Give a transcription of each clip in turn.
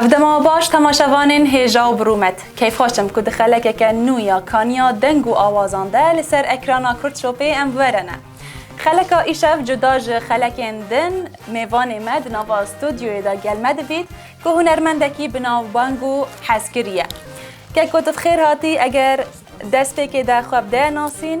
Ev dema baş temaşevanên hêja û birûmet. Keyfxweş im ku di xelekeke nû ya kaniya deng û awazan de li ser ekrana Kurdshopê em were ne. Xeleka îşev cuda ji xelekên din, mêvanê me di nava studyoyê de gel me dibît ku hunermendekî bi navbang û hezkirî ye. Keko tu bi xêr hatî eger destpêkê de xwe bi de nasîn.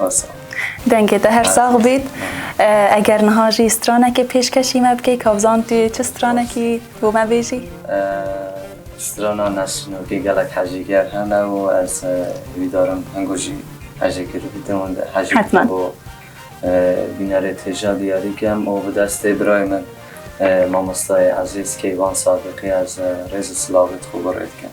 Basa. Dengê te her sax bît. Eger niha jî stranekê pêşkeşî me bikî ka bizan tu çi stranekî bo me bêjî? Strana Nesrin wekî gelek hecîger hene û ez wî darim hingo jî hejê kir bidim û hejê bidim bo bînerê têja diyarî kem û bi destê birayê min mamostayê ezîz Keyvan Sadiqî ez rêz û silavê dixwe bo rê dikim.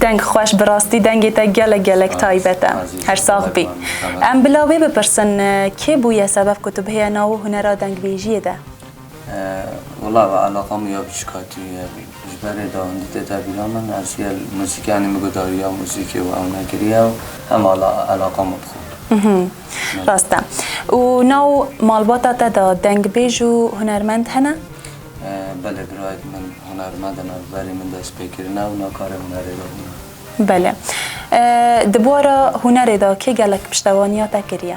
Deng xweş bi rastî dengê te gelek gelek taybet e. Her sax bî. Em bila wê bipirsin kê bûye sebeb ku tu bihêye nawo hunera dengbêjiyê de? Wela ve eleqa min ya biçûk hatiye ji ber rê de hûndî tê tevîra min. Ez jî muzîkyanê min guhdariya muzîkê û ew nekiriye û hema eleqa min bi xwe kir. Rast e. Û nav malbata te de dengbêj û hunermend hene? Belê birayek min hunermend e nav berê min dest pê kirine û nav karê hunerê de hûn e. Belê. Di bûara hunerê de kê gelek piştevaniya te kiriye?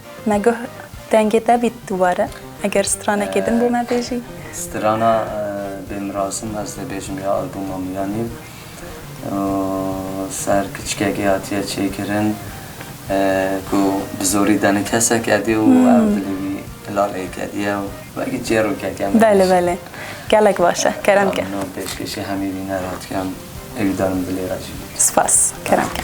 Me goh dengê te bît dubare. Eger stranekê din bo me bêjî. Strana bê mirasim ez dê bêjim ya albuma Miyanî û ser kiçikekê hatiye çêkirin ku bi zorî danî kesek edî û ew dilê wî hilal ê kediye û wekî çêrokek em Belê belê gelek baş e kerem ke. Min pêşkêşî hemî bîner hat kirin êwî danim dilê re jî. Spas kerem ke.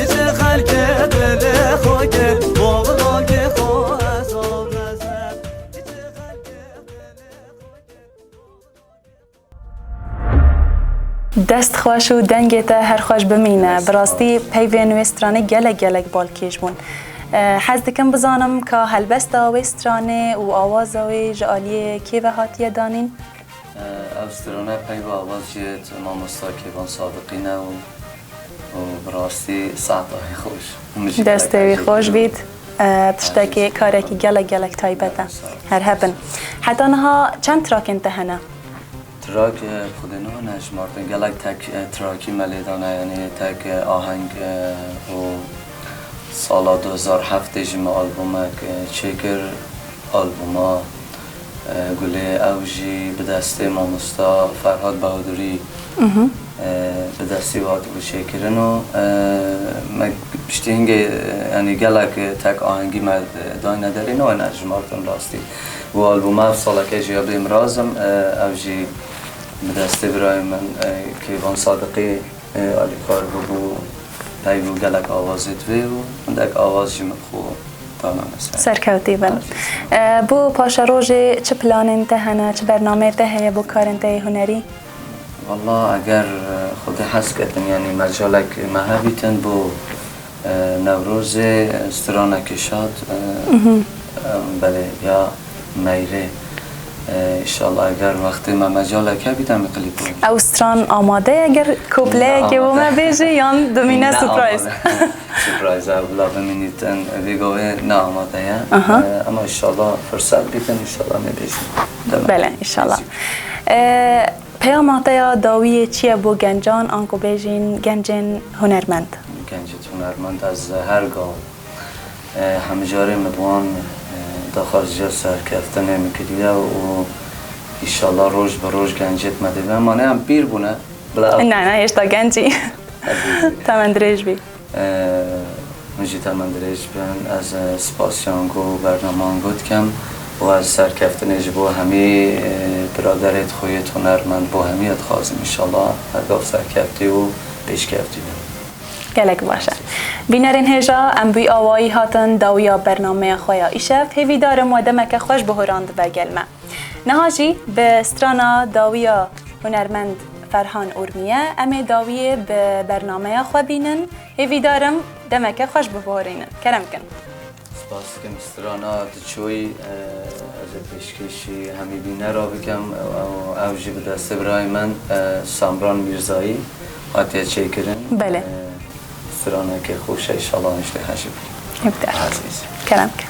Dest xweş û dengê te her xweş bimîne. Bi rastî peyvên wê stranê gelek gelek balkêş bûn. Hez dikim bizanim ka helbesta wê stranê û awaza wê ji aliyê kê ve hatiye danîn? Ev strana peyva vazciyet mamosta Kêvan Sadiqî ne û bi rastî saeta wî xweş. Destê wî xweş bît. Tiştekî karekî gelek gelek taybet e. Her hev bin. Heta niha çend trakên te hene? Trak xwedê niha nehişmartin. Gelek tek trakî me lê dane yanî tek aheng û sala du hezar û heftê jî me albomek çêkir. Alboma. Gulê ew jî bi destê mamosta Ferhad Bahudurî bi destî wê hatibû çêkirin û me piştî hingê yanî gelek tek ahengî me dayne derê ne wena hejmartin rastî û albûma ev saleke jî ya Bêm Razim ew jî bi destê birayê min Keyvan Sadiqî Alîkar bûbû peygû gelek awazê divê û hindek awaz jî min xwe danane ser. Serkewtî bin. Bo paşa rojê çi planên te hene, çi bernameyê te heye bo karên te yê hunerî? Walla eger xwedî hez kedin yanî mecalek me hebîtin bo Newrozê strana kişand belê ya meyrê inşallah eger wextê me mecalek hebî demê klîp bikî. Ew stran amade ye eger kopleyekê bo me bêjî yan bimîne surprise. Surprise ew bila bimînî din vê gavê ne amade ye ema inşallah firsat bidin inşallah nêbêjin. Bele inşallah. Peyama te ya dawî yê çi ye bo gencan an ku bêjîn gencên hunermend? Gencên hunermend ez her gaw hemijarê min bi wan daxwaziya serkeftinê min kiriye û înşallah roj bi roj gencêk me dê bibin. Ema ne em pîr bûne bila ev. Ne ne hêşta genc î. Temendirêj bî. Hûn jî temen dirêj bin. Ez spasiyan ku bernaman gû dikim û ez serkeftinê ji bo hemî biraderê dixuyit hunermend bo hemî dixwazim înşala her gav serkeftî û pêşkeftî bin. Gelek baş e. Bînerên hêja, em wî awayî hatin dawiya bernameya xwe ya îşev. Hêvîdar im we demeke xweş bihûran dibe gel me. Niha jî bi strana dawî ya hunermend Ferhan Urmiye em ê dawiyê bi bernameya xwe bînin. Hêvîdar im demeke xweş biborînin. Kerem kin. Spas dikim strana tu çûyî. Ez ê pêşkêşî hemî bînera bikim û ew jî bi destê birayê min Samran Mîrzayî hatiye çêkirin. Belê. Straneke xweş e, îşallah em jî dê hejî bikin. Îmtiyaz. Azîz. Kerem kin.